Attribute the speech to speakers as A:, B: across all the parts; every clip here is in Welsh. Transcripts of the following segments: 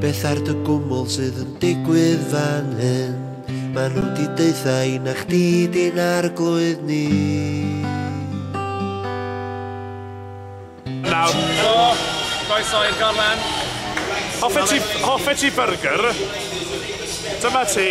A: Beth ar dy gwmwl sydd yn digwydd fan hyn? Mae nhw di deutha i na chdi di'n arglwydd ni.
B: Nawr. Helo, croeso i'r gorlen. Hoffet ti, hoffet ti byrgyr? Dyma ti.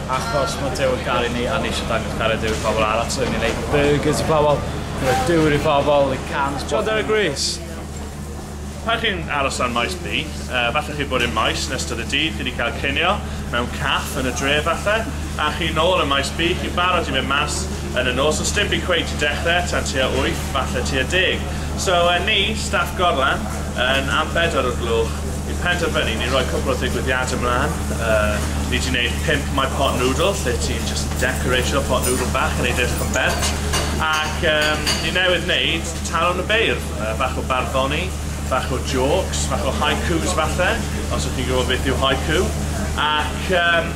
B: Achos mae Duw yn caru ni a ni eisiau dangos cariad Duw i phobl arall, so ni'n neud burgers i phobl, ni'n rhoi dŵr i phobl, i cans... John Derek Rees. Pan chi'n aros dan Maes B, falle chi'n bod i'r Maes yn ystod y dydd, chi 'di cael cinio mewn caff yn y dre falle, a chi nôl ym Maes B, chi'n barod i fynd mas yn y nos, ond sdim byd cweit yn dechrau tan tua wyth, falle tua deg. So, ni, staff gorlan, yn am bedwar o'r gloch, Ni'n penderfynu, ni'n rhoi cwpl o ddigwyddiadau mlaen, yy, ni di wneud pump My Pot Noodle, lle ti'n jyst decoratio pot noodle bach yn ei edrych yn bert, ac yym, ni newydd wneud Talon y Beirdd, yy, bach o barddoni, bach o jôcs, bach o haikus falle, os ydych chi'n gwybod beth yw haiku, ac yym,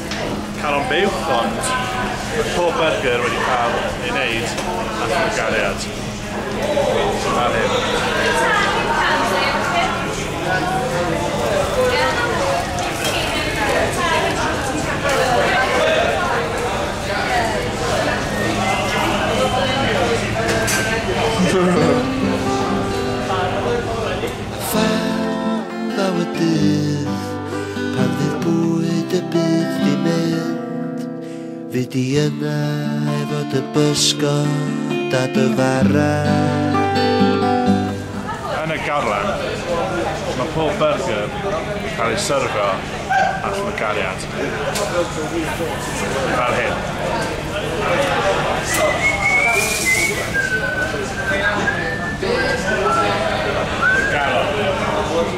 C: Caron Buwch ond mae pob byrgyr wedi cael ei wneud â llwgariad fel
A: hyn. Pan fydd bwyd y byd di mynd Fi di yna efo dy bysgod a dy fara
B: Yn y garllen, mae pob byrgyr yn cael eu syrfio â llygariad, fel hyn. Llygariad.